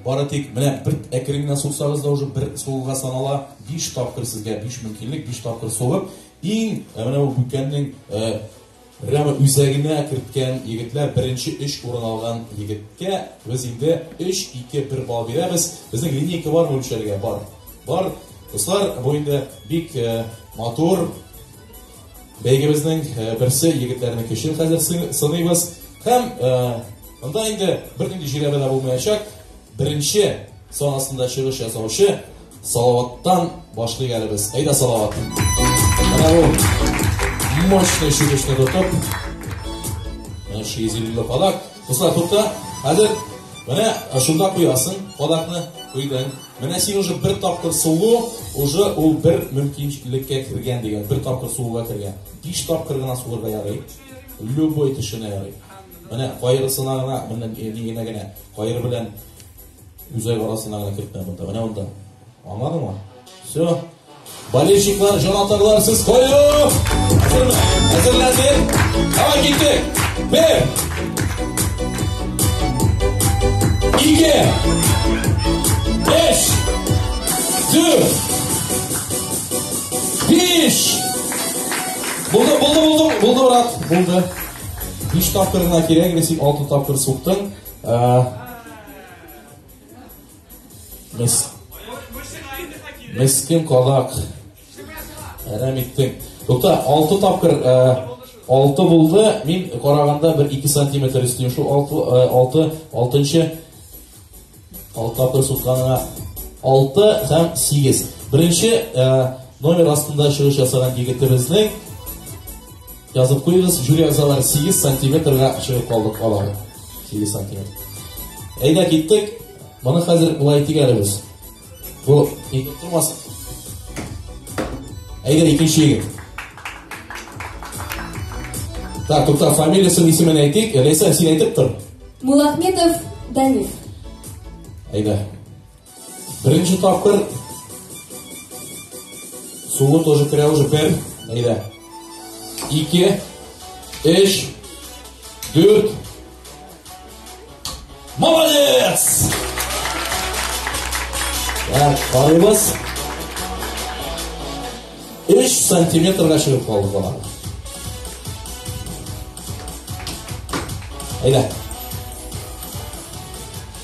Бары тик менә бер әкрен генә суксагыз да уже бер сугуга санала. 5 тапкыр сезгә 5 мөмкинлек, 5 тапкыр сугып, иң менә бу бүкәннең Рәмә үзәгенә керткән егетләр беренче өч урын алган егеткә без инде 3-2-1 балл бирәбез. Безнең линейка бар бүлшәргә бар. Бар. Дуслар, бу инде бик матур Бәйгебезнең берсе егетләрнең көчен хәзер сыныйбыз. Һәм монда инде бернинди җирәбә дә булмаячак. Беренче санасында чыгыш ясаучы Салаваттан башлыйк әле без. Әйдә Салават. Менә бу мощный чыгышны тотып. Менә ши изелле кадак. Дуслар, тукта. Хәзер менә шунда куясың кадакны. Куйдың. Менә син уже бер тапкыр сулу, уже ул бер мөмкинлеккә кергән дигән, бер тапкыр сулуга кергән. Биш тапкыр гына сулырга ярый. Любой төшенә ярый. Менә кайрысына гына, менә нигенә генә, кайры белән үзәк арасына гына кертмә монда. Менә монда. Аңладыңмы? Все. Болельщиклар җан атарлар, сез кое! Әзерләнде! Давай киттек! Бер! Ике! Беш! Дүр! Биш! Булды, булды, булды, булды, брат, булды. Биш тапкырына кирәк, несек алты тапкыр суктың. Э, Мис... Мискин кадак. Әрәм иттең. Тукта, алты тапкыр ә, алты булды. Мин караганда бер ике сантиметр өстем. Шул алты, ә, алты, алтынчы алты тапкыр сукканыңа алты һәм сигез. Беренче ә, номер астында чыгыш ясаган егетебезнең Язып куегыз, жюри әгъзалары 8 сантиметрга чыгып калдык алар. 8 сантиметр. Әйдә киттек. Моны хәзер болай тигәрбез. Бу ник тормас? Әйдә икенче егет. Так, тукта, фамилиясын исемен әйтик. Рәйсә, син әйтеп тор. Мулахметов Даниф. Әйдә. Беренче тапкыр Сулы тоже керә уже бер. Әйдә. Ике. Эш. Дүрт. Молодец! Так, карыйбыз. Эш сантиметрга чыгып калды бала. Әйдә.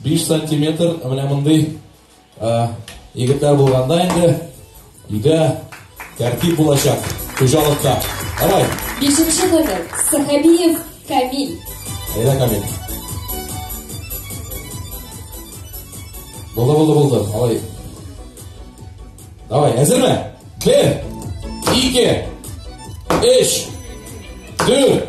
Биш сантиметр менә мондый егетләр булганда инде өйдә тәртип булачак хуҗалыкта. Давай. Бишенче номер Сахабиев Камиль. Әйдә Камиль. Булды, булды, булды. Алай. Давай, әзерме? Бер, ике, өч, дүрт,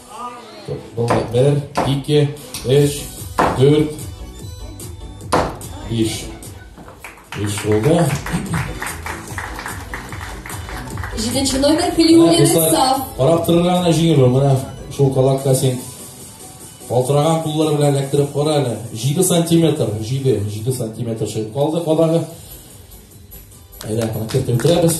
Болай, бер, ике, өч, дүрт, биш. Биш булды. Җиденче номер Хилиуллин Исаф. Карап торырга гына җиңел ул. Менә шул калакка син Калтыраган куллар белән эләктереп кара әле. 7 сантиметр, 7, 7 сантиметр чыгып калды кадагы. Әйдә, аны кертеп үтерәбез.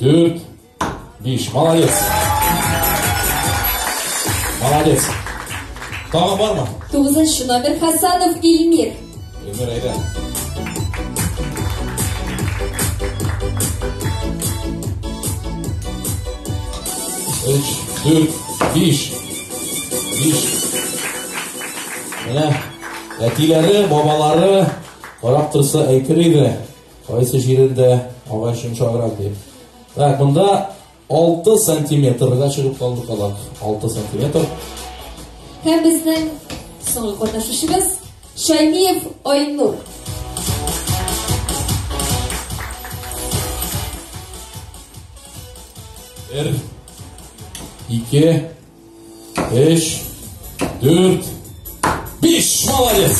Дүрт, биш. Молодец. Молодец. Тағы бар ма? Тугызыншы номер Хасанов Ильмир. Ильмир, әйдә. Үч, дүрт, биш. Биш. Менә әтиләре, бабалары, Карап тұрса әйтер еді Кайсы җирендә агач йомшаграк дип. Так, монда 6 сантиметрга чыгып калды калак. 6 сантиметр. Һәм безнең соңгы катнашучыбыз Шәймиев Айнур. Бер, ике, Эш. Дүрт. Биш. Молодец.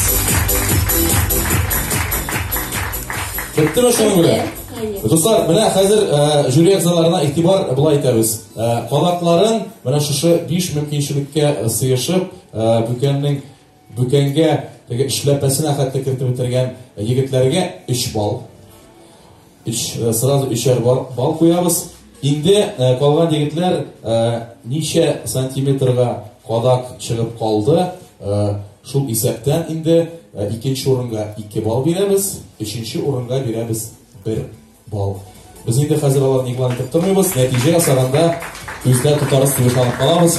Бетте ме шуның белән? Дуслар, менә хәзер э, жюри әгъзаларына игътибар былай итәбез. Э, Калакларын менә шушы 5 мөмкинчелеккә сыешып, э, Бүкәннең Бүкәнгә теге эшләпәсенә хәтле кертеп бетергән егетләргә 3 балл. 3 э, сразу өчәр балл куябыз. Инде э, калган егетләр э, ничә сантиметрга кадак чыгып калды, шул исәптән инде икенче урынга 2 балл бирәбез, өченче урынга бирәбез 1 балл. Без инде хәзер аларны игълан итеп тормыйбыз, нәтиҗә ясаганда күздә тотарыз дип ышанып калабыз.